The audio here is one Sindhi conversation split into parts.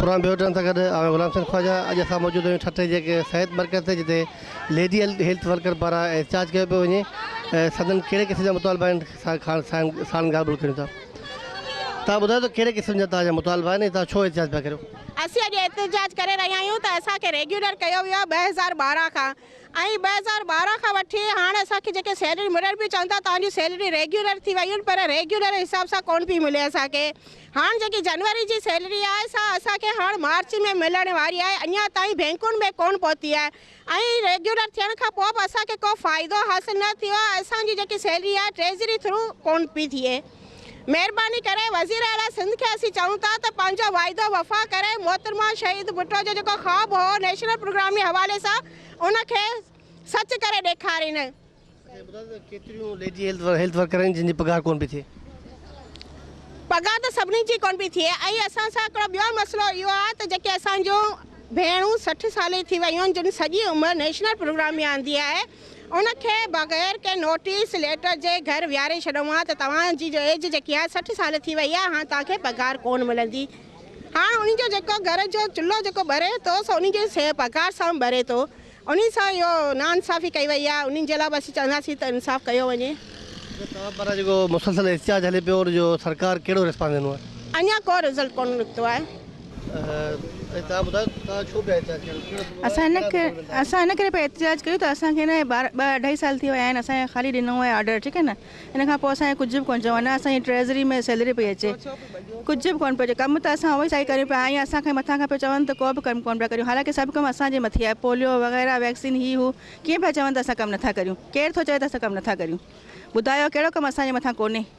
پروگرام ۾ هجڻ سان گڏ آء غلام حسين خواجا اڄ اسان موجود آهيون ٺٽي جي هڪ صحت مرڪز تي جتي ليڊي هيلٿ ورڪر پاران احتجاج ڪيو پيو وڃي ۽ سندن ڪهڙي قسم جا مطالبا آهن سان ساڻن ڳالهه ٻولهه ڪريون ٿا تان ٻڌايو ته ڪهڙي قسم جا تان جا مطالبا آهن ۽ تان ڇو احتجاج پيا ڪريو اسين اڄ احتجاج ڪري رهيا آهيون ته اسان کي ريگيولر ڪيو ويو آهي ٻه هزار ٻارهن کان ۽ ٻه هزار ٻارهن کان وٺي هاڻ اسان کي جيڪي سيلري ملڻ پئي چون ٿا توهان جون سيلري ريگيولر ٿي ويون پر ريگيولر حساب سان ڪون پئي ملي اسان کي هاڻ جيڪي جنوري جي سيلري آهي سا اسان کي هاڻ مارچ ۾ ملڻ واري آهي اڃا تائين بينڪن ۾ ڪون پهتي آهي ۽ ريگيولر ٿيڻ کان پوء به اسان کي ڪو فائدو حاصل نه ٿيو آهي اسان جي جيڪي سيلري آهي ٽريزري ٿرو ڪون پئي ٿئي. مهرباني ڪري وزير اعليٰ سنڌ کي اسين چئون ٿا ته پنهنجو واعدو وفا ڪري محترمه شهيد ڀٽو جو جيڪو خواب هو نيشنل پروگرام جي حوالي سان ان کي سچ ڪري ڏيکارين. اسين ٻڌو ته ڪيتريون ليڊي هيلٿ ورڪر آهن جن جي پگهار ڪونه پئي ٿئي. پگهار ته سڀني جي ڪونه پئي ٿئي ۽ اسان سان هڪڙو ٻيو مسئلو اهو آهي ته جيڪي اسان جون ڀيڻون سٺ سالي ٿي ويون آهن جن سڄي عمر نيشنل پروگرام ۾ آندي آهي ان کي بغير ڪنهن نوٽيس ليٽر جي گهر ويهاري ڇڏيو مان ته توهان جي جو ايج جيڪي آهي سٺ سال ٿي وئي آهي هاڻ توهان کي پگهار ڪونه ملندي هاڻ انهي جو جيڪو گهر جو چلهو جيڪو ٻري ٿو سو انهي جي سي پگهار سان ٻري ٿو انهي سان اهو نا انصافي ڪئي وئي آهي انهي جي لاء به اسين چونداسين ته انصاف ڪيو وڃي. جو توهان پاران جيڪو مسلسل احتجاج هلي پيو ان جو سرڪار ڪهڙو ريسپانس ڏنو آهي؟ اڃا ڪو رزلٽ ڪونه نڪتو آهي. اسان ان ڪري اسان ان ڪري پيا احتجاج ڪيون ته اسان کي نه ٻه اڍائي سال ٿي ويا آهن اسان کي خالي ڏنو آهي آرڊر ٺيڪ آهي نه ان کان پوء اسان کي ڪجهه به ڪونه چيو نه اسان جي ٽريزري ۾ سيلري پئي اچي ڪجهه به ڪونه پيو اچي ڪم ته اسان اهو سائي ڪريون پيا ائين اسان کي مٿان کان پيو چون ته ڪو به ڪم ڪونه پيا ڪريون حالانڪه سڀ ڪم اسان جي مٿي آهي پوليو وغيره ويڪسين هي هو ڪيئن پيا چون ته اسان ڪم نٿا ڪريون ڪير ٿو چوي ته اسان ڪم نٿا ڪريون ٻڌايو ڪهڙو ڪم اسان جي مٿان ڪونهي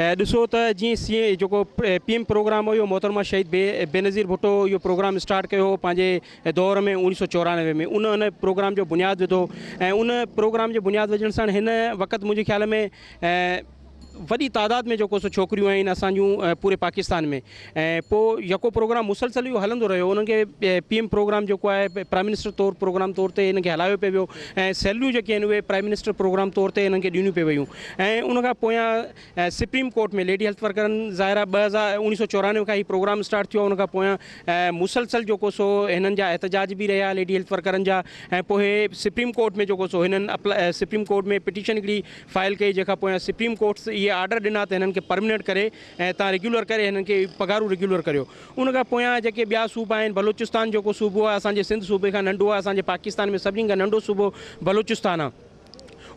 ۽ ڏسو ته جيئن سي ايم جيڪو پي ايم پروگرام هو اهو محترمه شهيد بي بينظير ڀٽو اهو پروگرام اسٽارٽ ڪيو هو پنهنجي دور ۾ اوڻيھ سئو چورانوي ۾ ان ان پروگرام جو بنياد وڌو ۽ ان پروگرام جي بنياد وجهڻ سان هن وقت منهنجي خيال ۾ وڏي تعداد ۾ جيڪو سو ڇوڪريون آهن اسان جون پوري پاڪستان ۾ ۽ پوء يڪو پروگرام مسلسل اهو هلندو رهيو انهن کي پي ايم پروگرام جيڪو آهي پرائم منسٽر طور پروگرام طور تي انهن کي هلايو پئي ويو ۽ سيلريون جيڪي آهن اهي پرائم منسٽر پروگرام طور تي انهن کي ڏيڻيون پئي ويون ۽ ان کان پويان سپريم ڪورٽ ۾ ليڊي هيلٿ ورڪرن ظاهر آهي ٻه هزار اوڻيهه سو چورانوي کان هي پروگرام اسٽارٽ ٿيو ان کان پويان مسلسل جيڪو سو هنن جا احتجاج به رهيا ليڊي هيلٿ ورڪرن جا ۽ پوء سپريم ڪورٽ ۾ جيڪو سو هنن سپريم ڪورٽ ۾ پٽيشن هڪڙي فائل ڪئي جنهن کان پويان سپريم ڪورٽ اهي آرڊر ڏنا ته هنن کي پرمننٽ ڪري ۽ تان ريگيولر ڪري ھنن کي پگھارون ريگيولر ڪريو ان کان پويان جيڪي ٻيا صوبا آھن بلوچستان جيڪو صوبو آھي اسان جي سنڌ صوبي کان ننڍو آھي اسان جي پاڪستان ۾ سڀني کان ننڍو صوبو بلوچستان آھي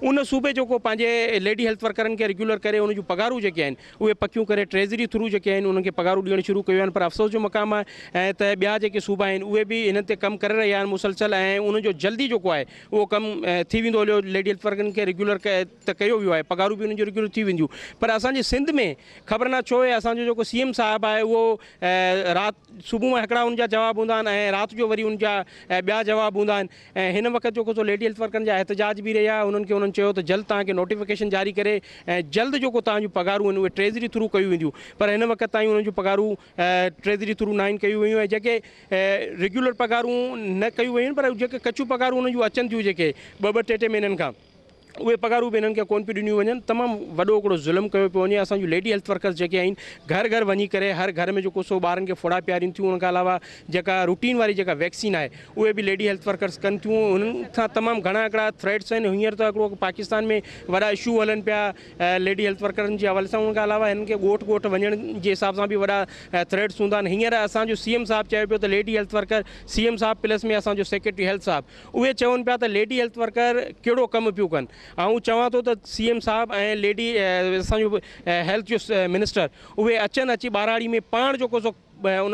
ان صوبي جيڪو پنھنجي ليڊي ھيلٿ ورڪرن کي ريگيولر ڪري ان جون پگھارون جيڪي آھن اھي پڪيون ڪري ٽريزري ٿرو جيڪي آھن انھن کي پگھارون ڏيڻ شروع ڪيون آھن پر افسوس جو مقام آھي ۽ ته ٻيا جيڪي صوبا آھن اھي به ھنن تي ڪم ڪري رھيا آھن مسلسل ۽ انھن جو جلدي جيڪو آھي اھو ڪم ٿي ويندو ھليو ليڊي ھيلٿ ورڪرن کي ريگيولر ته ڪيو ويو آهي پگهارون به انهن جون ريگيولر ٿي وينديون پر اسان جي سنڌ ۾ خبر نه ڇو اسان جو جيڪو سي ايم صاحب آهي اهو رات صبح مان هڪڙا ان جا جواب هوندا آهن ۽ رات جو وري ان جا ٻيا جواب هوندا آهن ۽ هن وقت جيڪو سو ليڊي هيلٿ ورڪرن جا احتجاج به رهيا انهن کي انهن چيو ته جلد توهان کي نوٽيفڪيشن جاري ڪري ۽ جلد جيڪو توهان جون پگهارون آهن اهي ٽريزري ٿرو ڪيون وينديون پر هن وقت تائين انهن جون پگهارون ٽريزري ٿرو ناهن ڪيون ويون ۽ جيڪي ريگيولر پگهارون نه ڪيون ويون آهن پر جيڪي ڪچيون پگهارون انهن جون اچن ٿيون جيڪي ٻه ٻه ٽي ٽي مهينن کان اهي پگهارون به هنن کي ڪونه پيون ڏنيون وڃن تمام وڏو هڪڙو ظلم ڪيو پيو وڃي اسان جون ليڊي هيلٿ ورڪرس جيڪي آهن گهر گهر وڃي ڪري هر گهر ۾ جو ڪو سو ٻارن کي ڦوڙا پيارين ٿيون ان کان علاوه جيڪا روٽين واري جيڪا ويڪسين آهي اهي به ليڊي هيلٿ ورڪرس ڪن ٿيون هنن کان تمام گهڻا هڪڙا ٿريٽس آهن هينئر ته هڪڙو پاڪستان ۾ وڏا اشو هلن پيا ليڊي هيلٿ ورڪرن جي حوالي سان ان کان علاوه هنن کي ڳوٺ ڳوٺ وڃڻ جي حساب سان به وڏا ٿريٽس هوندا آهن هينئر اسان جو سي ايم صاحب چيو پيو ته lady health worker C M صاحب پلس ۾ اسان جو سيڪريٽري هيلٿ صاحب اهي چون پيا ته ليڊي هيلٿ ورڪر ڪهڙو ڪم پيون ڪن، آئون چوان ٿو ته سي ايم صاحب ۽ ليڊي اسان جو هيلٿ جو منسٽر اهي اچن اچي ٻهراڙي ۾ پاڻ جيڪو سو ان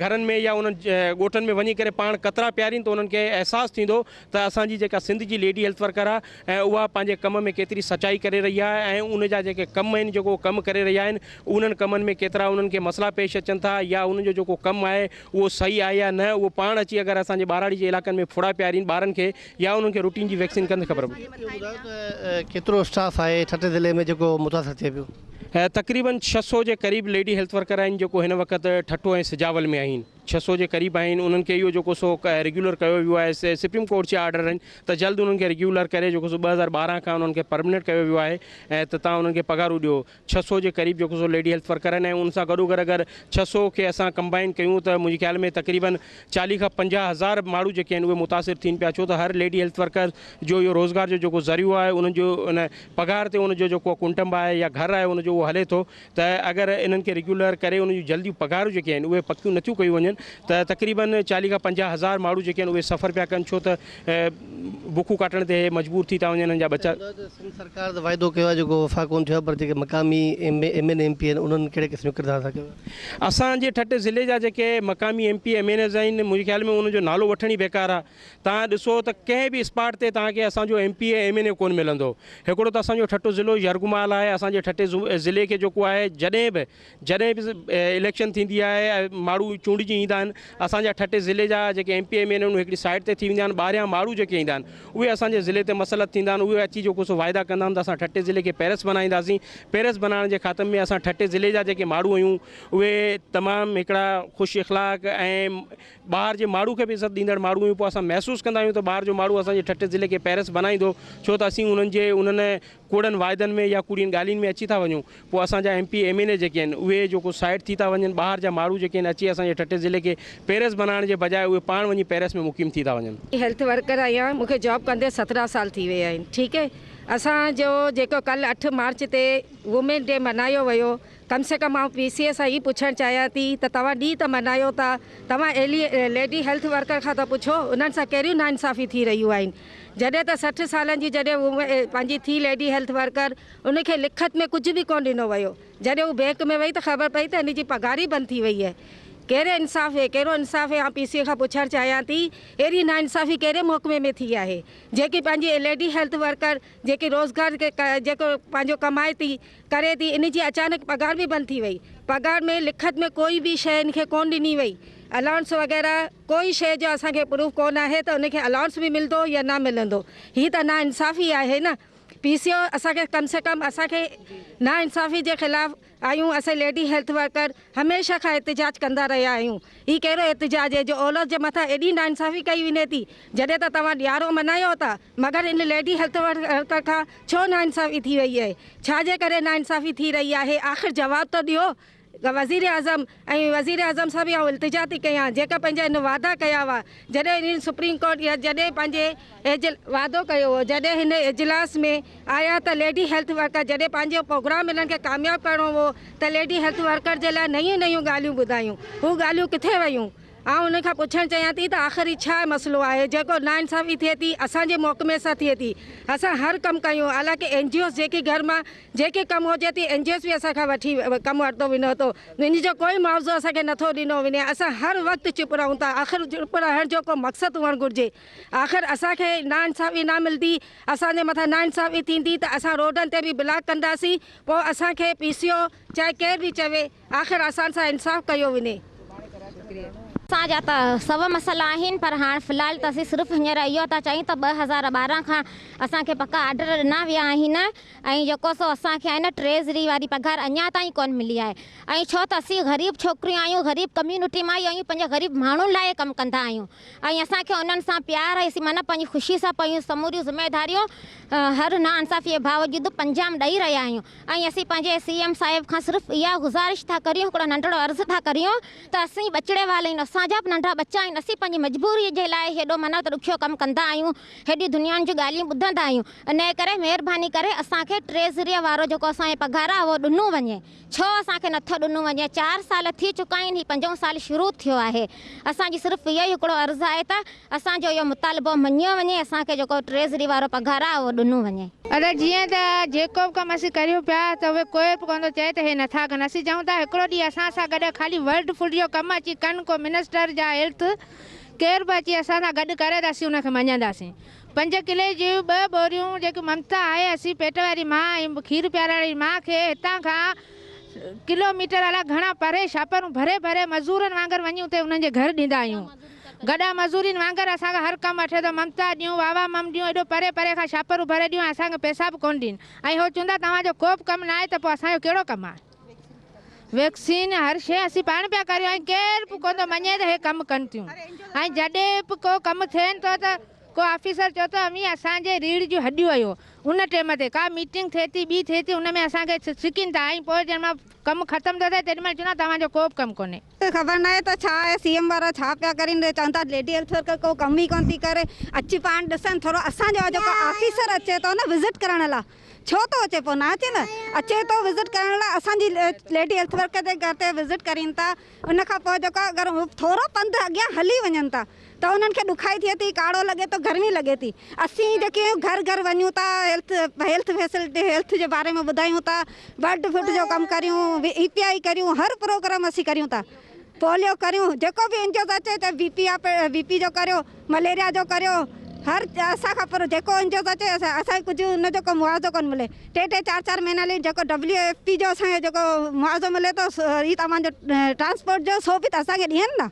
گهرن ۾ يا انهن ڳوٺن ۾ وڃي ڪري پاڻ قطرا پيارين ته انهن کي احساس ٿيندو ته اسان جي جيڪا سنڌ جي ليڊي هيلٿ ورڪر آهي اها پنهنجي ڪم ۾ ڪيتري سچائي ڪري رهي آهي ۽ ان جا جيڪي ڪم آهن جيڪو ڪم ڪري رهيا آهن انهن ڪمن ۾ ڪيترا انهن کي مسئلا پيش اچن ٿا يا انهن جو جيڪو ڪم آهي اهو صحيح آهي يا نه اهو پاڻ اچي اگر اسان جي ٻهراڙي جي علائقن ۾ ڦوڙا پيارين ٻارن کي يا انهن کي روٽين جي ويڪسين ڪن ته خبر پوي. اهو ٻڌايو ته ڪيترو اسٽاف آهي ٺٽي ضلعي ۾ جيڪو متاثر ٿئي پيو. تقريبن ڇهه سؤ جي قريب ليڊي هيلٿ ورڪر آهن جيڪو هن وقت ٺٽو ۽ سجاول ۾ آهن ڇهه سؤ جي قريب آهن انهن کي اهو جيڪو سو ريگيولر ڪيو ويو آهي سي سپريم ڪورٽ جا آرڊر آهن ته جلد انهن کي ريگيولر ڪري جيڪو سو ٻه هزار ٻارهن کان انهن کي پرمننٽ ڪيو ويو آهي ۽ ته تان انهن کي پگهارون ڏيو ڇهه سؤ جي قريب جيڪو سو ليڊي هيلٿ ورڪر آهن ۽ ان سان گڏوگڏ اگر ڇهه سؤ کي اسان ڪمبائن ڪيون ته منهنجي خيال ۾ تقريباً چاليهه کان پنجاهه هزار ماڻهو جيڪي آهن اهي متاثر ٿين پيا ڇو ته هر ليڊي هيلٿ ورڪر جو اهو روزگار جو جيڪو ذريعو آهي انهن جو ان پگهار تي ان جو جيڪو ڪنٽنب آهي يا گهر آهي ان جو اهو هلي ٿو ته اگر انهن کي ريگيولر ڪري انهن جون جلديون پگهارون جيڪي آهن اهي پڪيون نٿيون ڪيون وڃن ته تقريباً چاليهه کان پنجاهه هزار ماڻهو جيڪي آهن اهي سفر پيا ڪن ڇو ته بکون ڪاٽڻ تي مجبور ٿي ٿا وڃن انهن جا ٻچا. سنڌ چيو ته سنڌ سرڪار ته واعدو ڪيو آهي جيڪو وفا ڪونه ٿيو آهي پر جيڪي مقامي ايم اين ايم پي آهن انهن ڪهڙي قسم جو ڪردار ادا ڪيو آهي. اسان جي ٺٽي ضلعي جا جيڪي مقامي M P M N As آهن منهنجي خيال ۾ انهن جو نالو وٺڻ ئي بيڪار آهي توهان ڏسو ته ڪنهن به اسپاٽ تي توهان کي اسان جو M P M N A ڪونه ملندو هڪڙو ته اسان جو ٺٽو ضلعو يرغمال آهي اسان جي ٺٽي ضلعي کي جيڪو آهي جڏهن به جڏهن به اليڪشن ٿيندي آهي ماڻهو چونڊجي ايندا آهن اسان جا ٺٽي ضلعي جا جيڪي ايم پي ايم اين آهن هڪڙي سائيڊ تي ٿي ويندا آهن ٻاهريان ماڻهو جيڪي ايندا آهن اهي اسان جي ضلعي تي مسلط ٿيندا آهن اهي اچي جيڪو سو واعدا ڪندا آهن ته اسان ٺٽي ضلعي کي پيرس بنائينداسين پيرس بنائڻ جي خاطر ۾ اسان ٺٽي ضلعي جا جيڪي ماڻهو آهيون اهي تمام هڪڙا خوش اخلاق ۽ ٻاهر جي ماڻهو کي به عزت ڏيندڙ ماڻهو آهيون پوء اسان محسوس ڪندا آهيون ته ٻاهر جو ماڻهو اسان جي ٺٽي ضلعي کي پيرس بنائيندو ڇو ته اسين انهن جي انهن ڪوڙن واعدن ۾ يا ڪوڙين ڳالهين ۾ اچي ٿا وڃون پوء اسان جا M P M N A جيڪي آهن اهي جيڪو سائيڊ ٿي ٿا وڃن ٻاهر جا ماڻهو جيڪي آهن اچي اسان جي ٺٽي ضلعي کي پيرس بنائڻ جي بجاء اهي پاڻ وڃي پيرس ۾ مقيم ٿي ٿا وڃن. هيلٿ ورڪر آهيان مون کي جاب ڪندي سترهن سال ٿي ويا آهن ٺيڪ اسان جو جيڪو ڪلهه اٺ مارچ تي وومين ڊي ملهايو ويو ڪم سي ڪم آئون پي سي اي سان هي پڇڻ چاهيان ٿي ته توهان ڏينهن ته ملهايو ٿا توهان ايلي ليڊي هيلٿ ورڪر کان ته پڇو انهن سان ڪهڙيون ناانصافيون ٿي رهيون آهن جڏهن ته سٺ سالن جي جڏهن هو پنهنجي ٿي ليڊي هيلٿ ورڪر ان کي لکت ۾ ڪجهه به ڪونه ڏنو ويو جڏهن هو بينڪ ۾ وئي ته خبر پئي ته هن جي پگهار ئي بند ٿي وئي هي ڪهڙي انصاف هي ڪهڙو انصاف هي آئون پي سي کان پڇڻ چاهيان ٿي اهڙي نا انصافي ڪهڙي محڪمي ۾ ٿي آهي جيڪي پنهنجي ليڊي هيلٿ ورڪر جيڪي روزگار جيڪو پنهنجو ڪمائي ٿي ڪري ٿي ان جي اچانڪ پگهار به بند ٿي وئي پگهار ۾ لکت ۾ ڪوئي به شيء ان کي ڪونه ڏني وئي الاونس وغيره ڪوئي شيء جو اسان کي پروف ڪو نه آهي ته ان کي الائونس به ملندو يا نه ملندو هي ته نا انصافي آهي نه پي سي او اسان کي ڪم سي ڪم اسان کي نا انصافي جي خلاف آهيون اسين ليڊي هيلٿ ورڪر هميشه کان احتجاج ڪندا رهيا آهيون هي ڪهڙو احتجاج هي جو اولس جي مٿان ايڏي نا انصافي ڪئي وڃي ٿي جڏهن ته توهان ڏيارو منايو ٿا مگر ان ليڊي هيلٿ ورڪر کان ڇو نا انصافي ٿي رهي آهي ڇا جي ڪري نا انصافي ٿي رهي آهي آخر جواب ته ڏيو وزيراعظم ۽ وزيراعظم صاحب کي آئون التجا ٿي ڪيان جيڪا پنهنجا هن واعدا ڪيا هئا جڏهن هنن سپريم ڪورٽ يا جڏهن پنهنجي ايجل واعدو ڪيو هو جڏهن هن اجلاس ۾ آيا ته ليڊي هيلٿ ورڪر جڏهن پنهنجو پروگرام هنن کي ڪامياب ڪرڻو هو ته ليڊي هيلٿ ورڪر جي لاء نيون نيون ڳالهيون ٻڌايون هو ڳالهيون ڪٿي ويون آئون هنن کان پڇڻ چاهيان ٿي ته آخر هي ڇا مسئلو آهي جيڪو نا انصافي ٿئي ٿي اسان جي محڪمي سان ٿئي ٿي اسان هر ڪم ڪيون حالانڪه اين جي اوز جيڪي گهر مان جيڪي ڪم هجي ٿي اين جي ايس به اسان کان وٺي ڪم ورتو وينو ٿو ان جو ڪوئي معاوضو اسان کي نٿو ڏنو ويني اسان هر وقت چپ رهون ٿا آخر چپ رهڻ جو ڪو مقصد هئڻ گهرجي آخر اسان کي نا انصافي نا ملندي اسان جي مٿان نا انصافي ٿيندي ته اسان روڊن تي به بلاڪ ڪنداسين پوء اسان کي پي سي او چاهي ڪير به چوي آخر اسان سان انصاف ڪيو وڃي. اسان جا ته سو مسئلا آهن پر هاڻ في الحال ته اسين صرف هينئر اهو ٿا چاهيون ته ٻه هزار ٻارهن کان اسان کي پڪا آرڊر ڏنا ويا آهن ۽ جيڪو سو اسان کي ٽريزري واري پگهار اڃا تائين ڪونه ملي آهي ۽ ڇو ته اسين غريب ڇوڪريون آهيون غريب ڪميونٽي مان آهيون پنهنجي غريب ماڻهن لاء ڪم ڪندا آهيون ۽ اسان کي انهن سان پيار آهي اسين معنيٰ پنهنجي خوشي سان پنهنجون سموريون ذميداريون هر ناانصافي جي باوجود انجام ڏئي رهيا آهيون. ۽ اسين پنهنجي سي ايم صاحب کان صرف اها گذارش ٿا ڪريون هڪڙو ننڍڙو عرض ٿا ڪريون ته اسين ٻچڙي وال آهيون اسان جا به ننڍا ٻچا آهن اسين پنهنجي مجبوري جي لاء هيڏو منو ته ڏکيو ڪم ڪندا آهيون هيڏيون دنيائن جون ڳالهيون ٻڌندا آهيون انهي ڪري مهرباني ڪري اسان کي ٽريزريء وارو جيڪو اسان جي پگهار آهي اهو ڏنو وڃي ڇو اسان کي نٿو ڏنو وڃي چار سال ٿي چڪا آهن هي پنجون سال شروع ٿيو آهي اسان جي صرف اهو ئي هڪڙو عرض آهي ته اسان جو اهو مطالبو مڃيو وڃي اسان کي جيڪو ٽريزري وارو پگهار آهي اهو ڏنو وڃي. ادا جيئن ته جيڪو به ڪم اسين ڪريون پيا ته اهي ڪوئي به ڪوندو چئي ته هي نٿا ڪن اسين چئون ٿا هڪڙو ڏينهن اسان سان گڏ خالي ورلڊ فوڊ جو ڪم اچي ڪن ڪو منسٽر جا هيلٿ ڪير به اچي اسان سان گڏ ڪري ته اسين ان کي مڃينداسين پنج ڪلي جون ٻه ٻوريون جيڪي ممتا آهي اسين پيٽ واري ماء ۽ کير پيارڻ واري ماء کي هتان کان ڪلو ميٽر الاء گهڻا پري شاپرون ڀري ڀري مزورن وانگر وڃي اتي انهن جي گهر ڏيندا آهيون. گڏا مزورين وانگر اسان کان هر ڪم اٺيو ته ممتا ڏيون واهه واهه مم ڏيون ايڏو پري پري کان شاپرون ڀري ڏيون ۽ اسان کي پيسا به ڪونه ڏين ۽ هو چوندا توهان جو ڪو به ڪم نه آهي ته پوء اسان جو ڪهڙو ڪم آهي ويڪسين هر شيء اسين پاڻ پيا ڪريون ۽ ڪير به ڪونه ٿو مڃي ته هي ڪم ڪن ٿيون ۽ جڏهن به ڪو ڪم ٿين ٿو ته ڪو آفيسر چئو ته اوهين اسان جي ريڙهه جون هڏيون آهيو ان ٽيم تي ڪا ميٽنگ ٿئي ٿي ٻي ٿئي ٿي ان ۾ اسان کي سڪين ٿا ۽ پوء جڏهن مان ڪم ختم ٿو ٿئي تيڏي مهل چوندا توهان جو ڪو به ڪم ڪونهي. خبر ناهي ته ڇا اهي سي ايم وارا ڇا پيا ڪرين اهي چون ٿا ليڊي هيلٿ ورڪر ڪو ڪم ئي ڪونه ٿي ڪري اچي پاڻ ڏسن ٿورو اسان جو جيڪو آفيسر اچي ٿو نه وزٽ ڪرڻ لا ڇو ٿو اچي پو نه اچي نه اچي ٿو وزٽ ڪرڻ لا اسان جي ليڊي هيلٿ ورڪر جي گهر تي وزٽ ڪرين ٿا ان کان پو جيڪو اگر ٿورو پنڌ اڳيان هلي وڃن ٿا ته انهن کي ڏکائي ٿئي ٿي، ڪاڙهو لڳي ٿو، گرمي لڳي ٿي. اسين جيڪي گهر گهر وڃون ٿا، هيلٿ فيسلٽي، هيلٿ جي باري ۾ ٻڌايون ٿا، بلڊ فٽ جو ڪم ڪريون، اي پي آئي ڪريون، هر پروگرام اسين ڪريون ٿا، پوليو ڪريون، جيڪو به انجوز اچي چاهي بي پي آ، بي پي جو ڪريو، مليريا جو ڪريو، هر اسان کان پرو جيڪو انجوز اچي اسان کي ڪجهه ان جو ڪو معاوضو ڪونه ملي، ٽي ٽي چار چار مهينا لي جيڪو ڊبليو ايف پي جو اسان کي جيڪو معاوضو ملي ٿو، اي ته اوهان جو ٽرانسپورٽ جو سو به ته اسان کي ڏين نا.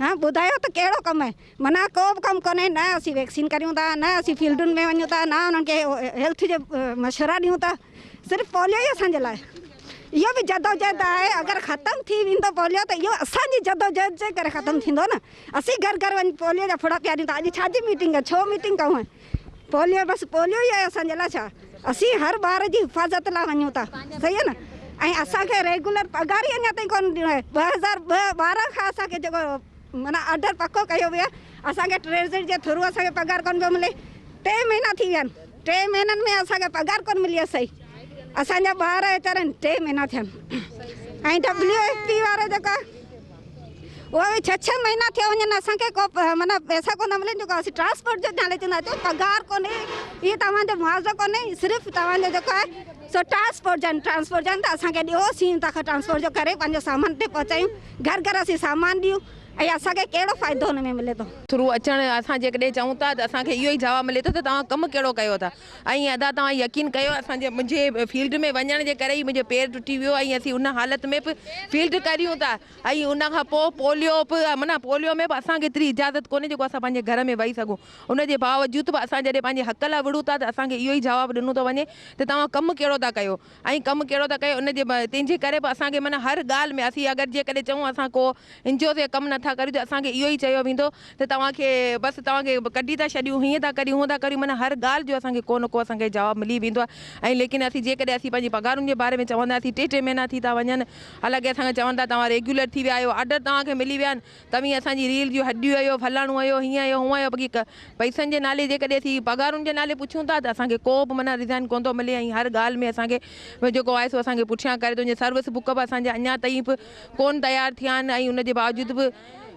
ها ٻڌايو ته ڪهڙو ڪم آهي معنيٰ ڪو به ڪم ڪونهي نه اسين ويڪسين ڪريون ٿا نه اسين فيلڊن ۾ وڃون ٿا نه انهن کي هيلٿ جي مشورا ڏيون ٿا صرف پوليو ئي اسان جي لاء اهو به جدوجهد آهي اگر ختم ٿي ويندو پوليو ته اهو اسان جي جدوجهد جي ڪري ختم ٿيندو نه اسين گهر گهر وڃي پوليو جا ڦڙا پياريون ٿا اڄ ڇا جي ميٽنگ آهي ڇو ميٽنگ ڪئون آهي پوليو بس پوليو ئي آهي اسان جي لاء ڇا اسين هر ٻار جي حفاظت لاء وڃون ٿا صحيح نه ۽ اسان کي ريگولر پگهار ئي اڃا تائين ڪونه ڏنو آهي ٻه هزار ٻارهن کان اسان کي جيڪو معنيٰ آرڊر پڪو ڪيو ويو آهي اسان کي ٽريزري جي ٿرو اسان کي پگهار ڪونه پيو ملي ٽي مهينا ٿي ويا آهن ٽي مهينن ۾ اسان کي پگهار ڪونه ملي آهي صحيح اسان جا ٻار ويچارن ٽي مهينا ٿيا آهن ۽ ڊبليو ايف پي وارا جيڪا اهي ڇهه ڇهه مهينا ٿيا وڃن اسان کي ڪو معنيٰ پئسا ڪونه ملن جيڪو اسين ٽرانسپورٽ جو نالي چوندا اچو پگهار ڪونهي هي توهان جو معاوضو ڪونهي صرف توهان جو جيڪو آهي سو ٽرانسپورٽ جن ٽرانسپورٽ جن ته اسان کي ڏيو سين تان کان ٽرانسپورٽ جو ڪري پنهنجو سامان تي پهچايون گهر گهر اسين سامان ڏيون ۽ اسان کي ڪهڙو فائدو ان ۾ ملي ٿو. ٿرو اچڻ اسان جيڪڏهن چئون ٿا ته اسان کي اهو ئي جواب ملي ٿو ته توهان ڪم ڪهڙو ڪيو ٿا ۽ ادا توهان يقين ڪيو اسان جي منهنجي فيلڊ ۾ وڃڻ جي ڪري ئي منهنجو پير ٽٽي ويو ۽ اسين ان حالت ۾ به فيلڊ ڪريون ٿا ۽ ان کان پوء پوليو به معنيٰ پوليو ۾ به اسان کي ايتري اجازت ڪونهي جيڪو اسان پنهنجي گهر ۾ وهي سگهون ان جي باوجود به اسان جڏهن پنهنجي حق لاء وڙهون ٿا ته اسان کي اهو ئي جواب ڏنو ٿو وڃي ته توهان ڪم ڪهڙو ٿا ڪيو ائين ڪم ڪهڙو ٿا ڪيو ان جي ڀائي تنهن جي ڪري به اسان کي معنيٰ هر ڳالهه ۾ اسين اگر جيڪڏهن چئون اسان ڪو انجوز يا ڪم نٿا ڪريون ته اسان کي اهو ئي چيو ويندو ته توهان کي بس توهان کي ڪڍي ٿا ڇڏيون هيئن ٿا ڪريون هونئن ٿا ڪريون معنيٰ هر ڳالهه جو اسان کي ڪو نه ڪو اسان کي جواب ملي ويندو آهي ۽ ليڪن اسين جيڪڏهن اسين پنهنجي پگهارن جي باري ۾ چونداسين ٽي ٽي مهينا ٿي ٿا وڃن حالانڪه اسان کي چون ٿا توهان ريگيولر ٿي ويا آهيو آرڊر توهان کي ملي ويا آهن توهين اسان جي ريل جون هڏيون آهيو، فلاڻو آهيو، هيئن آهيو، هونئن آهيو بقي پئسن جي نالي جيڪڏهن اسين پگهارن جي نالي پڇون ٿا ته اسان کي ڪو به معنيٰ ريزائن ڪونه ٿو ملي ۽ هر ڳالهه ۾ اسان کي جيڪو آهي سو اسان کي پٺيان ڪري ٿو وڃي سروس بڪ به اسان جا اڃا تائين به ڪونه تيار ٿيا آهن ۽ ان جي باوجود به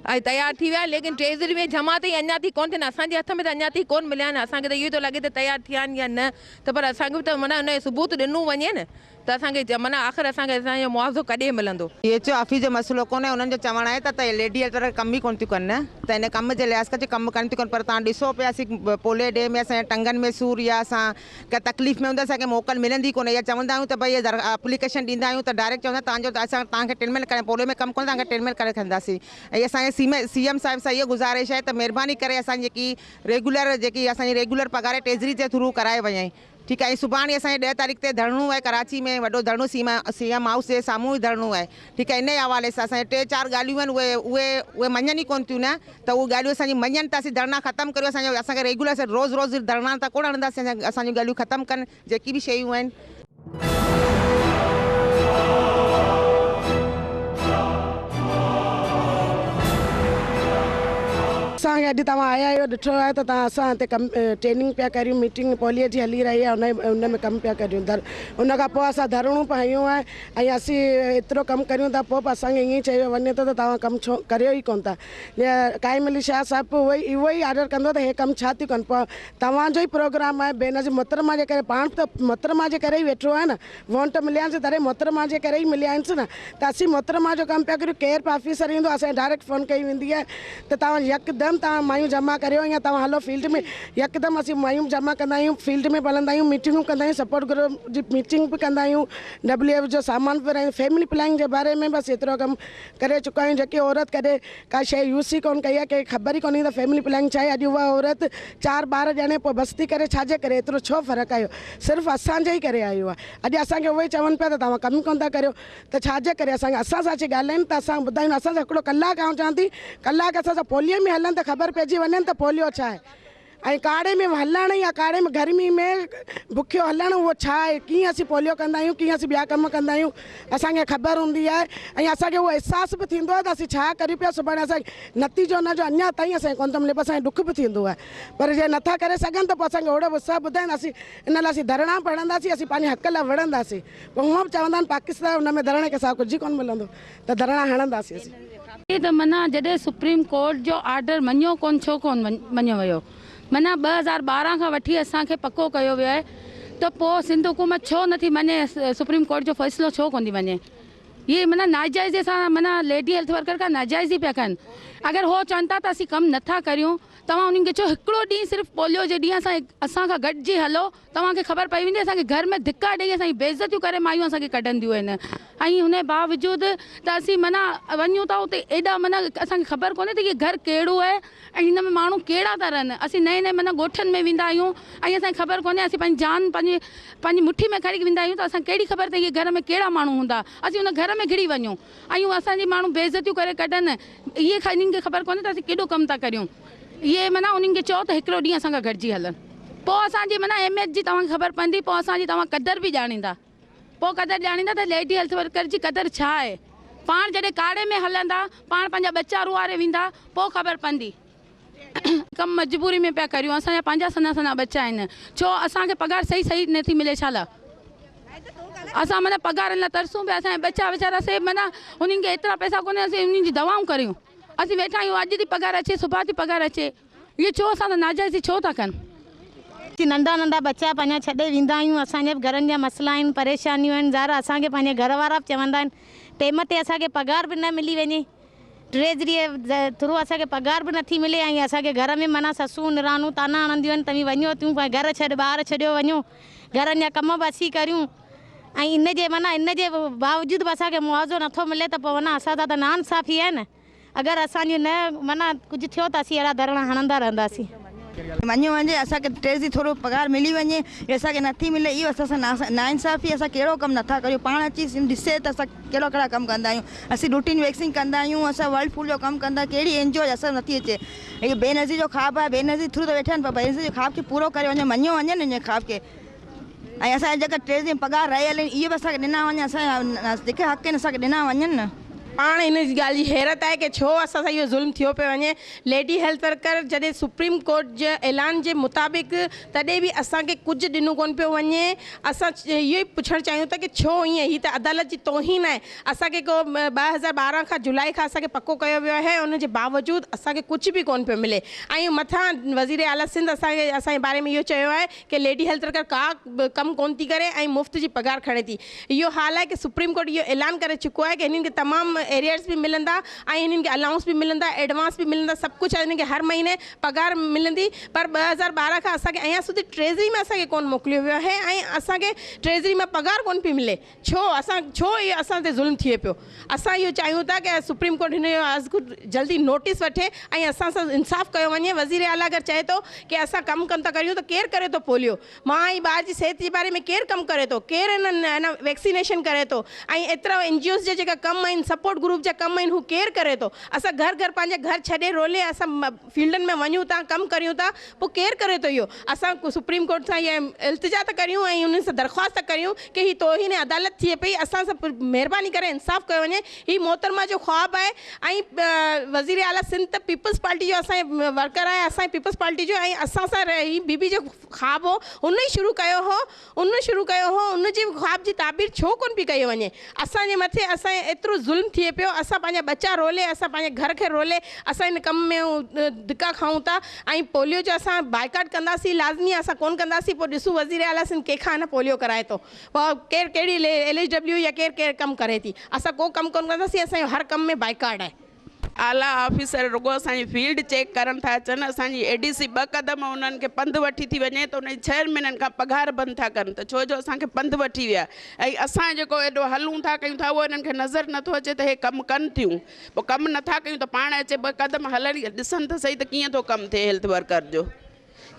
اهي تيار ٿي ويا آهن ليڪن ٽيزريون جمع تائين اڃا تائين ڪونه ٿيا آهن اسان جي هٿ ۾ ته اڃا تائين ڪونه مليا آهن اسان کي ته اهو ئي ٿو لڳي ته تيار ٿيا آهن يا نه ته پر اسان کي به ته معنيٰ ان جو ثبوت ڏنو وڃي نه ته اسان کي جمنا آخر اسان کي اسان جو معاوضو ڪڏهن ملندو؟ اي ايڇ او آفيس جو مسئلو ڪونهي انهن جو چوڻ آهي ته ته ليڊي هيلٿ ورڪر ڪم ئي ڪونه ٿيون ڪن ته ان ڪم جي لحاظ کان ڪم ڪن ٿيون ڪن پر توهان ڏسو پيا اسين پولي ڊي ۾ اسان جي ٽنگن ۾ سور يا اسان ڪنهن تڪليف ۾ هوندا اسان کي موڪل ملندي ڪونه يا چوندا آهيون ته بھي هي در اپليڪيشن ڏيندا آهيون ته ڊائريڪٽ چوندا آهن تهنجو اسان توهان کي ٽريٽمينٽ ڪري پولي ۾ ڪم ڪونه توهان کي ٽريٽمينٽ ڪري ڇڏنداسين ۽ اسان جي سيم سي ايم صاحب سان اهو گذارش آهي ته مهرباني ڪري اسان جي جيڪي ريگيولر جيڪي اسان جي ريگيولر پگهار ٽيزري جي ٿرو ڪرائي وڃي ٺيڪ آهي سڀاڻي اسان کي ڏهه تاريخ تي ڌرڻو آهي ڪراچي ۾ وڏو ڌرڻو سي سي ايم هائوس جي سامهون ئي ڌرڻو آهي ٺيڪ آهي انهي حوالي سان اسان جي ٽي چار ڳالهيون آهن اهي اهي اهي مڃن ئي ڪون ٿيون نه ته اهي ڳالهيون اسان جي مڃن ته اسين ڌرڻا ختم ڪريون اسان جو اسان کي ريگيولر اسان روز روز ڌرڻا ته ڪون هڻنداسين اسان اسان جون ڳالهيون ختم ڪن جيڪي به شيون آهن. اسان کي اڄ توهان آيا اهو ڏٺو آهي ته توهان اسان تي ڪم ٽريننگ پيا ڪريون ميٽنگ پوليء جي هلي رهي آهي ان ان ۾ ڪم پيا ڪريون در ان کان پوء اسان ڌرڻو به هنيو آهي ۽ اسين ايترو ڪم ڪريون ٿا پوء به اسان کي ائين چيو وڃي ٿو ته توهان ڪم ڇو ڪريو ئي ڪون ٿا قائم علي شاهه صاحب به اهو ئي اهو ئي آرڊر ڪندو ته هي ڪم ڇا ٿيون ڪن پوء توهان جو ئي پروگرام آهي بينظير محترمه جي ڪري پاڻ به ته محترمه جي ڪري ئي ويٺو آهي نه وونٽ مليانس تڏهن محترمه جي ڪري ئي مليانس نه ته اسين محترمه جو ڪم پيا ڪريون ڪير به آفيسر ايندو اسان کي ڊائريڪٽ فون ڪئي ويندي آهي ته توهان يڪدم توهان مايون جمع ڪريو يا توهان هلو فيلڊ ۾ يڪدم اسين مايون جمع ڪندا آهيون فيلڊ ۾ به هلندا آهيون ميٽنگون ڪندا آهيون سپورٽ گروپ جي ميٽنگ به ڪندا آهيون ڊبليو ايف جو سامان ورهائيندو فيملي پلاننگ جي باري ۾ به اسين ايترو ڪم ڪري چڪا آهيون جيڪي عورت ڪڏهن ڪا شيء يوز ئي ڪونه ڪئي آهي، ڪنهن کي خبر ئي ڪونهي ته فيملي پلاننگ ڇا آهي، اڄ اها عورت چار ٻار ڄڻي پوء بس ٿي ڪري ڇا جي ڪري، ايترو ڇو فرق آيو، صرف اسان جي ئي ڪري آيو آهي، اڄ اسان کي اهي چون پيا ته توهان ڪم ئي ڪونه ٿا ڪريو ته ڇا جي ڪري، اسان کي اسان سان اچي ڳالهائين ته اسان ٻڌايون، اسان سان هڪڙو ڪلاڪ آئون چوان ٿي ڪلاڪ اسان سان پوليو ۾ هلن ته خبر پئجي وڃن ته پوليو ڇا آهي، ۽ ڪاڙهي ۾ هلڻ يا ڪاڙهي ۾ گرمي ۾ بکيو هلڻ اهو ڇا آهي ڪيئن اسين پوليو ڪندا آهيون ڪيئن اسين ٻيا ڪم ڪندا آهيون اسان کي خبر هوندي آهي ۽ اسان کي اهو احساس به ٿيندو آهي ته اسين ڇا ڪريون پيا سڀاڻي اسان نتيجو ان جو اڃا تائين اسان کي ڪونه ٿو ملي پر اسان کي ڏک به ٿيندو آهي پر جي نٿا ڪري سگهن ته پوء اسان کي اوڙي به اتساهه ٻڌائين ته اسين ان لاء اسين ڌرڻا به هڻنداسين اسين پنهنجي حق لاء وڙهنداسين پوء هونئن به چوندا آهن پاڪستان ان ۾ ڌرڻي کان سواء ڪجهه ئي ڪونه ملندو ته ڌرڻا هڻنداسين اسين. ائين ته معنيٰ جڏهن سپريم ڪورٽ جو آرڊر مڃيو ڪونه ڇو ڪونه مڃيو ويو معنيٰ ٻه هزار ٻارهن کان وٺي اسان کي پڪو ڪيو ويو آهي ته پوء سنڌ حڪومت ڇو نٿي مڃي سپريم ڪورٽ جو فيصلو ڇو ڪونه ٿي مڃي اهي معنيٰ ناجائزي سان معنيٰ ليڊي هيلٿ ورڪر کان ناجائزي پيا ڪن اگر هو چون ٿا ته اسين ڪم نٿا ڪريون توهان انهن کي چئو هڪڙو ڏينهن صرف پوليو جي ڏينهن اسان کان گڏجي هلو توهان کي خبر پئي ويندي اسان کي گهر ۾ ڌڪا ڏئي اسان جي بيعزتيون ڪري مايون اسان کي ڪڍنديون آهن ۽ انهي باوجود ته اسين معنيٰ وڃون ٿا اتي ايڏا معنيٰ اسان کي خبر ڪونهي ته هي گهر ڪهڙو آهي ۽ هن ۾ ماڻهو ڪهڙا ٿا رهن اسين نئين نئين معنيٰ ڳوٺن ۾ ويندا آهيون ۽ اسان کي خبر ڪونهي اسين پنهنجي جان پنهنجي پنهنجي مٺي ۾ کڻي ويندا آهيون ته اسان کي ڪهڙي خبر ته هي گهر ۾ ڪهڙا ماڻهو هوندا اسين ان گهر ۾ گهڙي وڃون. ايون اسان جي ماڻهو بي عزتيون ڪري ڪڍن اهي انهن کي خبر ڪونهي ته اسين ڪيڏو ڪم ٿا ڪريون اهي معنيٰ انهن کي چئو ته هڪڙو ڏينهن اسان کان گڏجي هلن پوء اسان جي معنيٰ اهميت جي توهان کي خبر پوندي پوء اسان جي توهان قدر به ڄاڻيندا پوء قدر ڄاڻيندا ته ليڊي هيلٿ ورڪر جي قدر ڇا آهي پاڻ جڏهن ڪاڙهي ۾ هلندا پاڻ پنهنجا ٻچا روئاري ويندا پوء خبر پوندي. ڪم مجبوري ۾ پيا ڪريون اسان جا پنهنجا سنا سنا ٻچا آهن ڇو اسان کي پگهار صحيح صحيح نه ٿي ملي ڇالا اسان معنيٰ پگهارن لاء ترسون پيا اسان جا ٻچا ويچارا سي معنيٰ انهن کي ايترا پئسا ڪونهن اسين انهن جي دوائون ڪريون اسين ويٺا آهيون اڄ ٿي پگهار اچي صبح ٿي پگهار اچي اهي ڇو اسان سان ناجائزي ڇو ٿا ڪن. اسين ننڍا ننڍا ٻچا پنهنجا ڇڏي ويندا آهيون اسان جا به گهرن جا مسئلا آهن پريشانيون آهن ظاهر اسان کي پنهنجا گهر وارا به چوندا آهن ٽيم تي اسان کي پگهار به نه ملي وڃي ٽريجريء ٿرو اسان کي پگهار به نٿي ملي ۽ اسان کي گهر ۾ معنيٰ سسون نراڻون طعنا هڻنديون آهن، توهين وڃو تون پنهنجا گهر ڇڏ، ٻار ڇڏيو وڃو، گهرن جا ڪم به اسين ڪريون ۽ ان جي معنيٰ ان جي باوجود به اسان کي معاوضو نٿو ملي ته پوء معنيٰ اسان سان ته ناانصافي آهي نه، اگر اسان جي نه معنيٰ ڪجهه ٿيو ته اسين اهڙا ڌرڻا هڻندا رهنداسين. وڃي وڃي اسان کي ٽيڪس جي ٿورو پگهار ملي وڃي هي اسان کي نٿي ملي اهو اسان سان ناانصافي اسان ڪهڙو ڪم نٿا ڪريون پاڻ اچي ڏسي ته اسان ڪهڙا ڪهڙا ڪم ڪندا آهيون اسين روٽين ويڪسين ڪندا آهيون اسان ورلڊ فوڊ جو ڪم ڪندا ڪهڙي اين جي او اسان نٿي اچي اهو بينظير جو خواب آهي بينظير ٿرو ته ويٺا آهن پر بينظير جي خواب کي پورو ڪري وڃي مڃيو وڃي نه ان خواب کي. ۽ اسان جا جيڪا ٽي ڏينهن پگهار رهيل آهن، اهي به اسان کي ڏنا وڃن، اسان جا جيڪي حق آهن، اسان کي ڏنا وڃن نه. پاڻ هن ڳالهه جي حيرت آهي ڪي ڇو اسان سان اهو ظلم ٿيو پيو وڃي. ليڊي هيلٿ ورڪر جڏهن سپريم ڪورٽ جي اعلان جي مطابق تڏهن به اسان کي ڪجهه ڏنو ڪونه پيو وڃي. اسان اهو ئي پڇڻ چاهيون ٿا ڪي ڇو ائين؟ هي ته عدالت جي توهين آهي. اسان کي ڪو ٻه هزار ٻارهن کان جولاء کان اسان کي پڪو ڪيو ويو آهي ۽ ان جي باوجود اسان کي ڪجهه به ڪونه پيو ملي ۽ مٿان وزير اعليٰ سنڌ اسان کي اسان جي باري ۾ اهو چيو آهي ڪي ليڊي هيلٿ ورڪر ڪا به ڪم ڪونه ٿي ڪري ۽ مفت جي پگهار کڻي ٿي. اهو حال آهي ڪي سپريم ڪورٽ اهو اعلان ڪري چڪو آهي ڪي هنن کي تمام ايريئرز به ملندا ۽ هنن کي الائونس به ملندا، ايڊوانس به ملندا سڀ ڪجهه هنن کي هر مهيني پگهار ملندي پر ٻه هزار ٻارهن کان اسان کي اڃا سوڌي ٽريزري ۾ اسان کي ڪونه موڪليو ويو آهي ۽ اسان کي ٽريزري مان پگهار ڪونه پئي ملي. ڇو اسان ڇو اهو اسان تي ظلم ٿئي پيو اسان اهو چاهيون ٿا ڪه سپريم ڪورٽ هن جو از خود جلدي نوٽيس وٺي ۽ اسان سان انصاف ڪيو وڃي وزير اعليٰ اگر چئي ٿو ڪه اسان ڪم ڪن ٿا ڪريون ته ڪير ڪري ٿو پوليو مان ۽ ٻار جي صحت جي باري ۾ ڪير ڪم ڪري ٿو ڪير ان ان ويڪسينيشن ڪري ٿو ۽ ايترا اين جي اوز جا جيڪا ڪم آهن سپورٽ گروپ جا ڪم آهن هو ڪير ڪري ٿو اسان گهر گهر پنهنجا گهر ڇڏي رولي اسان فيلڊن ۾ وڃون ٿا ڪم ڪريون ٿا پوء ڪير ڪري ٿو اهو اسان سپريم ڪورٽ سان اها التجا ته ڪريون ۽ انهن سان درخواست ته ڪريون ڪي هي توهين عدالت ٿئي پئي اسان سان مهرباني ڪري انصاف ڪيو وڃي هي محترمه جو خواب آهي ۽ وزير اعليٰ سنڌ ته پيپلز پارٽي جو اسان جي ورڪر آهي اسان جي پيپلز پارٽي جو ۽ اسان سان هي بي بي جو خواب هو هن ئي شروع ڪيو هو ان شروع ڪيو هو ان جي خواب جي تعبير ڇو ڪونه پئي ڪئي وڃي اسان جي مٿي اسان جي ايترو ظلم ٿئي پيو اسان پنهنجا ٻچا رولي اسان پنهنجي گهر کي رولي اسان ان ڪم ۾ ڌڪا کائون ٿا ۽ پوليو جو اسان بائيڪاٽ ڪنداسين لازمي آهي اسان ڪونه ڪنداسين پوء ڏسون وزير اعليٰ سنڌ ڪنهن کان نه پوليو ڪرائي ٿو پوء ڪير ڪهڙي ايل ايڇ ڊبليو يا ڪير ڪير ڪم ڪري ٿي اسان ڪو ڪم ڪونه ڪنداسين اسان جو هر ڪم ۾ بائيڪاٽ آهي اعليٰ آفيسر رڳو اسان جي فيلڊ چيڪ ڪرڻ ٿا اچن، اسان جي اي ڊي سي ٻه قدم انهن کي پنڌ وٺي ٿي وڃي ته انهن جي ڇهن مهينن کان پگهار بند ٿا ڪرن ته ڇو جو اسان کي پنڌ وٺي ويا ۽ اسان جيڪو ايڏو هلون ٿا ڪيون ٿا اهو انهن کي نظر نٿو اچي ته اهي ڪم ڪن ٿيون پوء ڪم نٿا ڪيون ته پاڻ اچي ٻه قدم هلن ڏسن ته سهي ته ڪيئن ٿو ڪم ٿئي هيلٿ ورڪر جو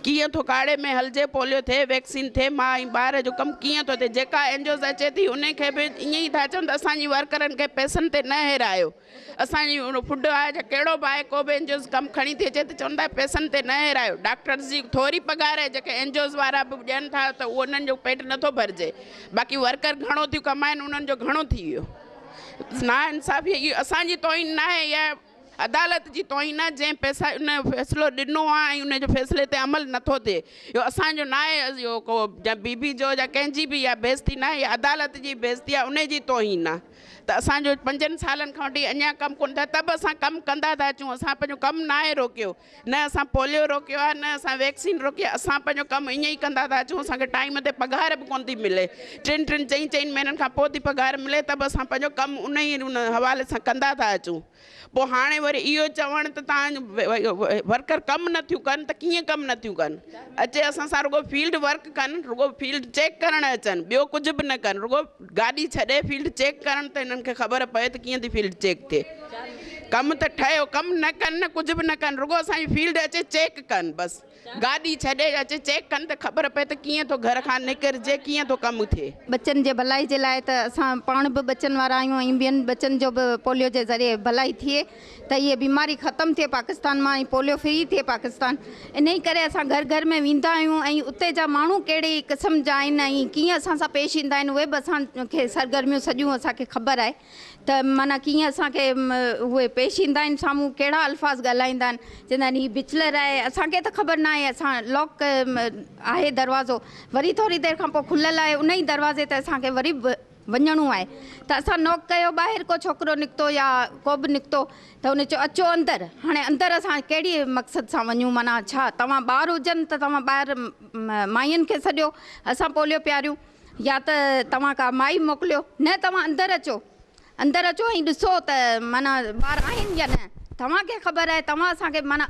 ڪيئن ٿو ڪاڙي ۾ هلجي پوليو ٿئي ويڪسين ٿئي ماء ۽ ٻار جو ڪم ڪيئن ٿو ٿئي جيڪا اين جي اوز اچي ٿي انهن کي به ائين ئي ٿا چون ته اسان جي ورڪرن کي پئسن تي نه هيرايو. اسان جي اهو ڦڏ آهي جو ڪهڙو به آهي ڪو به اين جي اوز ڪم کڻي ٿي اچي ته چون ٿا پئسن تي نه هيرايو ڊاڪٽرز جي ٿوري پگهار آهي جيڪي اين جي اوز وارا به ڏين ٿا ته اهو انهن جو پيٽ نه ٿو ڀرجي باقي ورڪر گهڻو ٿيون ڪمائن انهن جو گهڻو ٿي ويو نا انصافي اهو اسان جي توهين نه آهي اها عدالت جي توهين آهي جنهن پئسا ان جو فيصلو ڏنو آهي ۽ ان جي فيصلي تي عمل نه ٿو ٿئي اهو اسان جو نه آهي اهو ڪو جا بي بي جو جا ڪنهن جي به اها بي عزتي نه آهي اها عدالت جي بي عزتي آهي ان جي توهين آهي ته اسان جو پنجن سالن کان وٺي اڃان ڪم ڪونه ٿيو آهي ته به اسان ڪم ڪندا ٿا اچون اسان پنهنجو ڪم ناهي روڪيو نه اسان پوليو روڪيو آهي نه اسان ويڪسين روڪي آهي اسان پنهنجو ڪم ائين ئي ڪندا ٿا اچون اسان کي ٽائيم تي پگهار به ڪونه ٿي ملي ٽن ٽن چئين چئين مهينن کان پوء ٿي پگهار ملي ته به اسان پنهنجو ڪم ان ئي ان حوالي سان ڪندا ٿا اچون. پوء هاڻي وري اهو چوڻ ته تان ورڪر ڪم نه ٿيون ڪن ته ڪيئن ڪم نه ٿيون ڪن اچي اسان سان رڳو فيلڊ ورڪ ڪن رڳو فيلڊ چيڪ ڪرڻ اچن ٻيو ڪجهه به نه ڪن رڳو گاڏي ڇڏي فيلڊ چيڪ ڪرڻ ته هنن کي خبر پئي ته ڪيئن ٿي فيلڊ چيڪ ٿئي ڪم ته ٺهيو ڪم نه ڪن نه ڪجهه به نه ڪن رڳو اسانجي فيلڊ اچي چيڪ ڪن بس گاڏي ڇڏي اچ چيڪ ڪن ته خبر پئي ته ڪيئن ٿو گهر کان نڪرجي ڪيئن ٿو ڪم ٿئي. ٻچن جي ڀلائي جي لاء ته اسان پاڻ به ٻچن وارا آهيون ۽ ٻين ٻچن جو به پوليو جي ذريعي ڀلائي ٿئي ته هيء بيماري ختم ٿئي پاڪستان مان ۽ پوليو فري ٿئي پاڪستان انهي ڪري اسان گهر گهر ۾ ويندا آهيون ۽ اتي جا ماڻهو ڪهڙي قسم جا آهن ۽ ڪيئن اسان سان پيش ايندا آهن اهي به اسان کي سرگرميون سڄيون اسان کي خبر آهي. ته معنيٰ ڪيئن اسان کي اهي پيش ايندا آهن سامهون ڪهڙا الفاظ ڳالهائيندا آهن چوندا آهن هي بچلر آهي اسان کي ته خبر ناهي اسان لاڪ آهي دروازو وري ٿوري دير کان پوء کليل آهي ان ئي دروازي تي اسان کي وري به وڃڻو آهي ته اسان نوڪ ڪيو ٻاهر ڪو ڇوڪرو نڪتو يا ڪو به نڪتو ته ان چيو اچو اندر هاڻي اندر اسان ڪهڙي مقصد سان وڃون معنيٰ ڇا توهان ٻار هجن ته توهان ٻاهر مائين کي سڏيو اسان پوليو پياريون يا ته توهان ڪا مائي موڪليو، نه توهان اندر اچو، اندر اچو ۽ ڏسو ته معنيٰ ٻار آهن يا نه، توهان کي خبر آهي، توهان اسان کي معنيٰ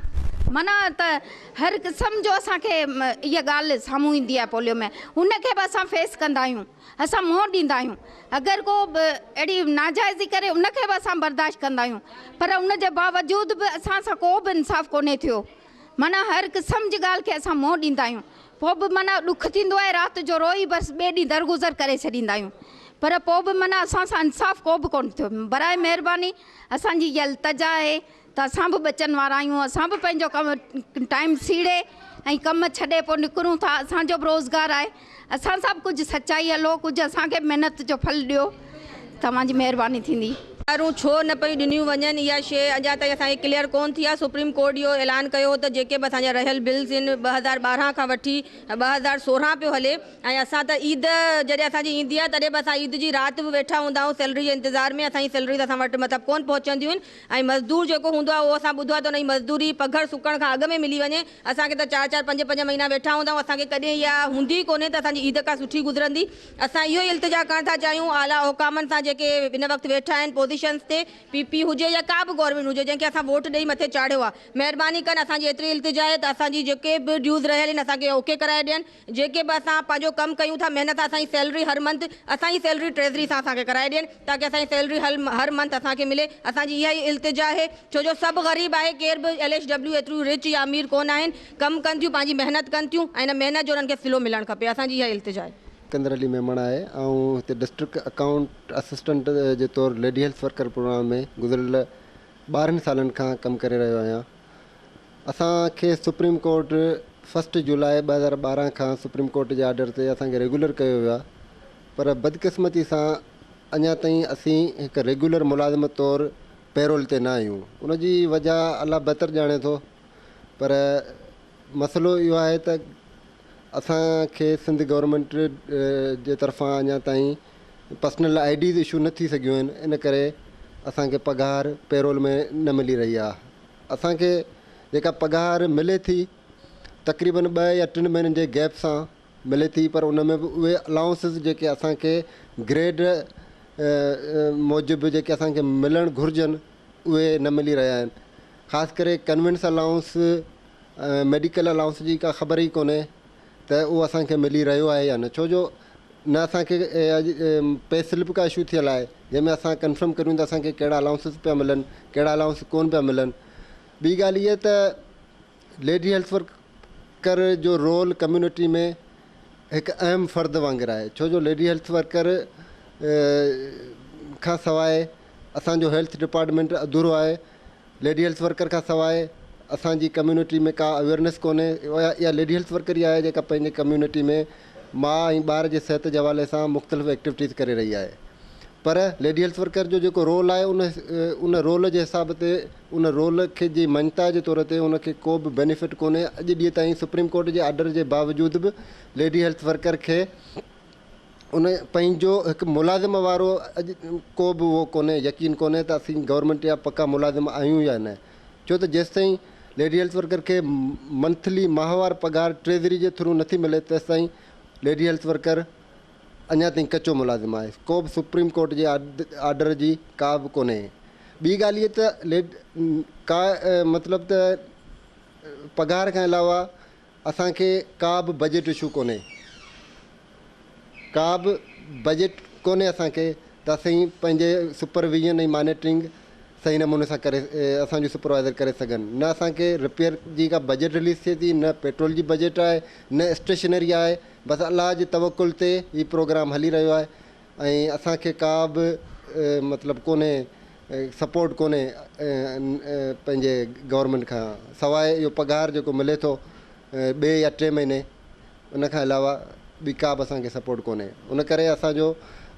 معنيٰ ته هر قسم جو اسان کي اها ڳالهه سامهون ايندي آهي پوليو ۾ ان کي به اسان فيس ڪندا آهيون، اسان منهن ڏيندا آهيون، اگر ڪو به اهڙي ناجائزي ڪري ان کي به اسان برداشت ڪندا آهيون، پر ان جي باوجود به اسان سان ڪو به انصاف ڪونهي ٿيو. معنيٰ هر قسم جي ڳالهه کي اسان منهن ڏيندا آهيون پوء به معنيٰ ڏک ٿيندو آهي رات جو روئي بس ٻئي ڏينهن درگذر ڪري ڇڏيندا آهيون پر پوء به معنيٰ اسان سان انصاف ڪو به ڪونه ٿيو برائي مهرباني اسان جي اها التجا آهي ته اسان به ٻچن وارا آهيون اسان به پنهنجو ڪم ٽائيم سيڙي ۽ ڪم ڇڏي پوء نڪرون ٿا اسان جو به روزگار آهي اسان سان به ڪجهه سچائي هلو ڪجهه اسان کي به محنت جو ڦل ڏيو توهان جي مهرباني ٿيندي. سزارون ڇو نه پيون ڏنيون وڃن اها شيء اڃا تائين اسان کي ڪليئر ڪون ٿي آهي سپريم ڪورٽ اهو اعلان ڪيو هو ته جيڪي به اسان جا رهيل بلز ان ٻه هزار ٻارهن کان وٺي ٻه هزار سورهن پيو هلي ۽ اسان ته عيد جڏهن اسان جي ايندي آهي تڏهن به اسان عيد جي رات به ويٺا هوندا آهيون سيلري جي انتظار ۾ اسان جي سيلريز اسان وٽ مطلب ڪون پهچنديون آهن ۽ مزدور جيڪو هوندو آهي اهو اسان ٻڌو آهي ته ان جي مزدوري پگهر سڪڻ کان اڳ ۾ ملي وڃي اسان کي ته چار چار پنج پنج مهينا ويٺا هوندا آهيون اسان کي ڪڏهن اها هوندي ئي ڪونهي ته اسان جي عيد ڪا سٺي گذرندي اسان اهو ئي التجا ڪرڻ ٿا چاهيون اعليٰ حڪامن سان جيڪي هن وقت ويٺا آهن پوزيشنس تي پي پي هجي يا ڪا به گورنمينٽ هجي جنهن کي اسان ووٽ ڏئي مٿي چاڙهيو آهي مهرباني ڪن اسان جي ايتري التجا آهي ته اسان جي جيڪي به ڊيوز رهيل آهن اسان کي اوڪي ڪرائي ڏين. جيڪي به اسان پنهنجو ڪم ڪيون ٿا محنت سان اسان جي سيلري هر منٿ اسان جي سيلري ٽريزري سان اسان کي ڪرائي ڏين تاڪه اسان جي سيلري هر منٿ اسان کي ملي اسان جي اها ئي التجا آهي ڇو جو سڀ غريب آهي ڪير به ايل ايڇ ڊبليو ايتريون رچ يا امير ڪونه آهن ڪم ڪن ٿيون پنهنجي محنت ڪن ٿيون ۽ ان محنت جو انهن کي صلو ملڻ کپي اسان جي اها ئي التجا آهي. سڪندر علي ميمڻ آهي آئون هتي ڊسٽرڪٽ اڪائونٽ اسسٽنٽ جي طور ليڊي هيلٿ ورڪر پروگرام ۾ گذريل ٻارهن سالن کان ڪم ڪري رهيو آهيان. اسان کي سپريم ڪورٽ فرسٽ جولاء ٻه هزار ٻارهن کان سپريم ڪورٽ جي آرڊر تي اسان کي ريگيولر ڪيو ويو آهي پر بدقسمتي سان اڃا تائين اسين هڪ ريگيولر ملازم طور پيرول تي نه آهيون ان جي وجهه الله بهتر ڄاڻي ٿو پر مسئلو اهو آهي ته اسان کي سنڌ گورنمينٽ جي طرفان اڃا تائين پرسنل آئي ڊيز اشو نه ٿي سگهيون آهن ان ڪري اسان کي پگهار پيرول ۾ نه ملي رهي آهي اسان کي جيڪا پگهار ملي ٿي تقريبن ٻه يا ٽن مهينن جي گيپ سان ملي ٿي پر ان ۾ به اهي الائونسز جيڪي اسان کي گريڊ موجب جيڪي اسان کي ملڻ گهرجن اهي نه ملي رهيا آهن خاص ڪري ڪنوينس الائونس ۽ ميڊيڪل الائونس جي ڪا خبر ئي ڪونهي ته اهو اسان کي ملي رهيو آهي يا نه ڇو جو نه اسان کي اڄ پي سلپ ڪا اشو ٿيل آهي جنهن ۾ اسان ڪنفرم ڪريون ته اسان کي ڪهڙا الائونسز پيا ملن ڪهڙا الائونس ڪون پيا ملن ٻي ڳالهه هيء ته ليڊي هيلٿ ورڪ ورڪر جو رول ڪميونٽي ۾ هڪ اهم فرد وانگر آهي ڇو جو ليڊي هيلٿ ورڪر کان سواء اسان جو هيلٿ ڊپارٽمينٽ اڌورو آهي، ليڊي هيلٿ ورڪر کان سواء اسان جي ڪميونٽي ۾ ڪا اويئرنيس ڪونهي، اها ليڊي هيلٿ ورڪر ئي آهي جيڪا پنهنجي ڪميونٽي ۾ ماء ۽ ٻار جي صحت جي حوالي سان مختلف ايڪٽيوٽيز ڪري رهي آهي پر ليڊي هيلٿ ورڪر جو جيڪو رول آهي ان ان رول جي حساب تي ان رول کي جي مڃتا جي طور تي ان کي ڪو به بينيفٽ ڪونهي اڄ ڏينهن تائين سپريم ڪورٽ جي آرڊر جي باوجود به ليڊي هيلٿ ورڪر کي ان پنهنجو هڪ ملازم وارو اڄ ڪو به اهو ڪونهي يقين ڪونهي ته اسين گورنمينٽ جا پڪا ملازم آهيون يا نه ڇو ته جيستائين ليڊي هيلٿ ورڪر کي منٿلي ماهوار پگهار ٽريزري جي ٿرو نٿي ملي تيستائين ليڊي هيلٿ ورڪر اڃا تائين ڪچو ملازم آهي ڪو به سپريم ڪورٽ جي آرڊر جي ڪا به ڪونهي ٻي ڳالهه هي ته ليڊ ڪا مطلب ته پگهار کان علاوه اسان کي ڪا به بجيٽ اشو ڪونهي ڪا به بجيٽ ڪونهي اسان کي ته اسين پنهنجي سپر ويزن ۽ مانيٽرنگ صحيح نموني سان ڪري اسان جو سپروائيزر ڪري سگهن نه اسان کي رپيئر جي ڪا بجيٽ رليز ٿئي ٿي نه پيٽرول جي بجيٽ آهي نه اسٽيشنري آهي بس الله جي توڪل تي هي پروگرام هلي رهيو آهي ۽ اسان کي ڪا به مطلب ڪونهي سپورٽ ڪونهي پنهنجي گورنمينٽ کان سواء اهو پگهار جيڪو ملي ٿو ٻي يا ٽي مهيني ان کان علاوه ٻي ڪا به اسان کي سپورٽ ڪونهي ان ڪري اسان جو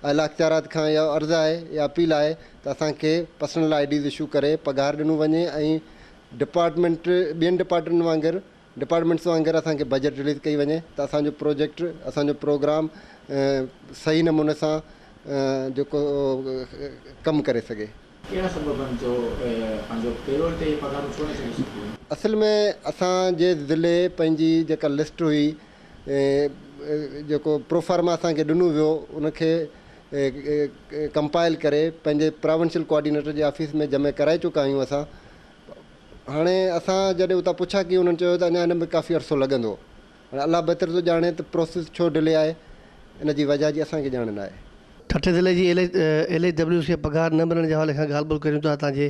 اعليٰ اختيارات کان اهو عرض آهي يا اپيل آهي ته اسان کي پرسنل آئي ڊيز اشو ڪري پگهار ڏنو وڃي ۽ ڊپارٽمينٽ ٻين ڊپارٽمينٽ وانگر ڊپارٽمينٽس وانگر اسان کي بجيٽ رليز ڪئي وڃي ته اسان جو پروجيڪٽ اسان جو پروگرام صحيح نموني سان جيڪو ڪم ڪري سگهي. ڪهڙا سبب آهن جو پنهنجو پيرول تي پگهارون ڇو نه ڇڏي سگهيون؟ اصل ۾ اسان جي ضلعي پنهنجي جيڪا لسٽ هئي جيڪو پروفارما اسان کي ڏنو ويو ان کي ڪمپائل ڪري پنهنجي پراونشل ڪوآرڊينيٽر جي آفيس ۾ جمع ڪرائي چڪا آهيون اسان هاڻي اسان جڏهن اتان پڇا ڪئي انهن چيو ته اڃا ان ۾ ڪافي عرصو لڳندو. هاڻي الله بهتر ٿو ڄاڻي ته پروسيس ڇو ڊلي آهي ان جي وجهه جي اسان کي ڄاڻ نه آهي. ٺٽي ضلعي جي ايل ايڇ ڊبليو سي پگهار نه ملڻ جي حوالي کان ڳالهه ٻولهه ڪريون ٿا هتان جي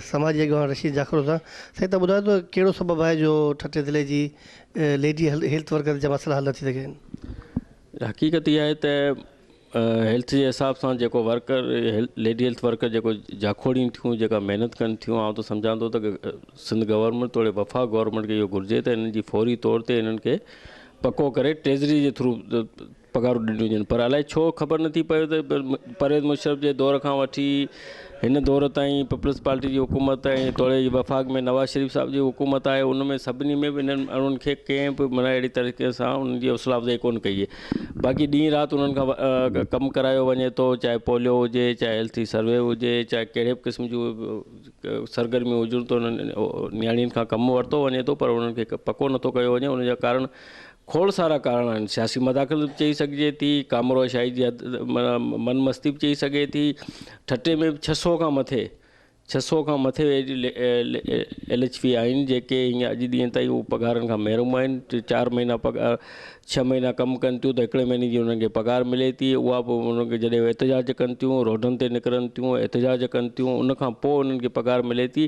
سماجي اڳواڻ رشيد جاکوڙ سان. سائين تان ٻڌايو ته ڪهڙو سبب آهي جو ٺٽي ضلعي جي ليڊي هيلٿ ورڪرز جا مسئلا حل نه ٿي سگهيا آهن. حقيقت اها آهي ته هيلٿ جي حساب سان جيڪو ورڪر ليڊي هيلٿ ورڪر جيڪو جاکوڙين ٿيون جيڪا محنت ڪن ٿيون آئون ته سمجهان ٿو ته سنڌ گورنمينٽ توڙي وفاق گورنمينٽ کي اهو گهرجي ته انهن جي فوري طور تي انهن کي پڪو ڪري ٽريزري جي ٿرو پگهارون ڏنيون وڃن پر الائي ڇو خبر نٿي پوي ته پرويز مشرف جي دور کان وٺي هن دور تائين پيپلز پارٽي جي حڪومت ۽ توڙي جي وفاق ۾ نواز شريف صاحب جي حڪومت آهي ان ۾ سڀني ۾ به انهن ماڻهن کي ڪنهن به معنيٰ اهڙي طريقي سان انهن جي حوصلا افزائي ڪونه ڪئي باقي ڏينهن رات انهن کان ڪم ڪرايو وڃي ٿو چاهي پوليو هجي چاهي هيلٿي سروي هجي چاهي ڪهڙي به قسم جون سرگرميون هجن ته انهن نياڻين کان ڪم ورتو وڃي ٿو پر انهن کي پڪو نٿو ڪيو وڃي ان جا ڪارڻ کوڙ سارا ڪارڻ آهن، سياسي مداخلت به چئي سگهجي ٿي، ڪامورو شاهي جي من مستي به چئي سگهي ٿي، ٺٽي ۾ به ڇهه سؤ کان مٿي ڇهه سؤ کان مٿي ايل ايڇ پي آهن جيڪي هينئر اڄ ڏينهن تائين هو پگهارن کان محروم آهن ٽي چار مهينا پگهار ڇهه مهينا ڪم ڪن ٿيون ته هڪڙي مهيني جي انهن کي پگهار ملي ٿي اها به انهن کي جڏهن احتجاج ڪن ٿيون روڊن تي نڪرن ٿيون احتجاج ڪن ٿيون ان کان پوء انهن کي پگهار ملي ٿي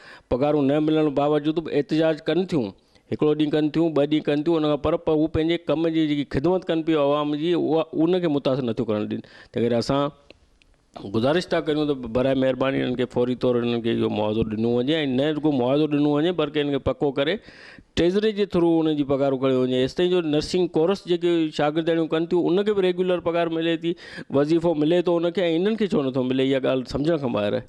پگهارون نه ملڻ باوجود به احتجاج ڪن ٿيون هڪڙو ڏينهن ڪن ٿيون ٻه ڏينهن ڪن ٿيون ان کان پر هو پنهنجي ڪم جي جيڪي خدمت ڪن پيو عوام جي اها ان کي متاثر نٿيون ڪرڻ ڏين تنهن ڪري اسان گذارش ٿا ڪريون ته برائي مهرباني انهن کي فوري طور انهن کي اهو معاوضو ڏنو وڃي ۽ نه رڳو معاوضو ڏنو وڃي بلڪه انهن کي پڪو ڪري ٽريزري جي ٿرو انهن جي پگهارون کڻيو وڃي ايستائين جو نرسنگ ڪورس جيڪي شاگردياڻيون ڪن ٿيون ان کي به ريگيولر پگهار ملي ٿي وظيفو ملي ٿو ان کي ۽ انهن کي ڇو نٿو ملي اها ڳالهه سمجهڻ کان ٻاهر آهي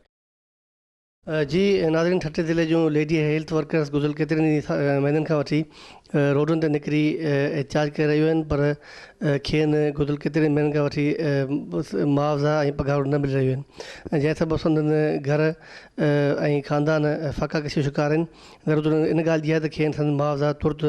جي ناظرين ٺٽي ضلعي جون ليڊي هيلٿ ورڪرز گذريل ڪيترن ئي مهينن کان وٺي روڊن تي نڪري احتجاج ڪري رهيون آهن پر کين گذريل ڪيترن مهينن کان وٺي معاوضا ۽ پگهارون نه ملي رهيون آهن جنهن سبب سندن گهر ۽ خاندان فاقا ڪشيء جو شڪار آهن ضرورت ان ڳالهه جي آهي ته کين سندن معاوضا ترت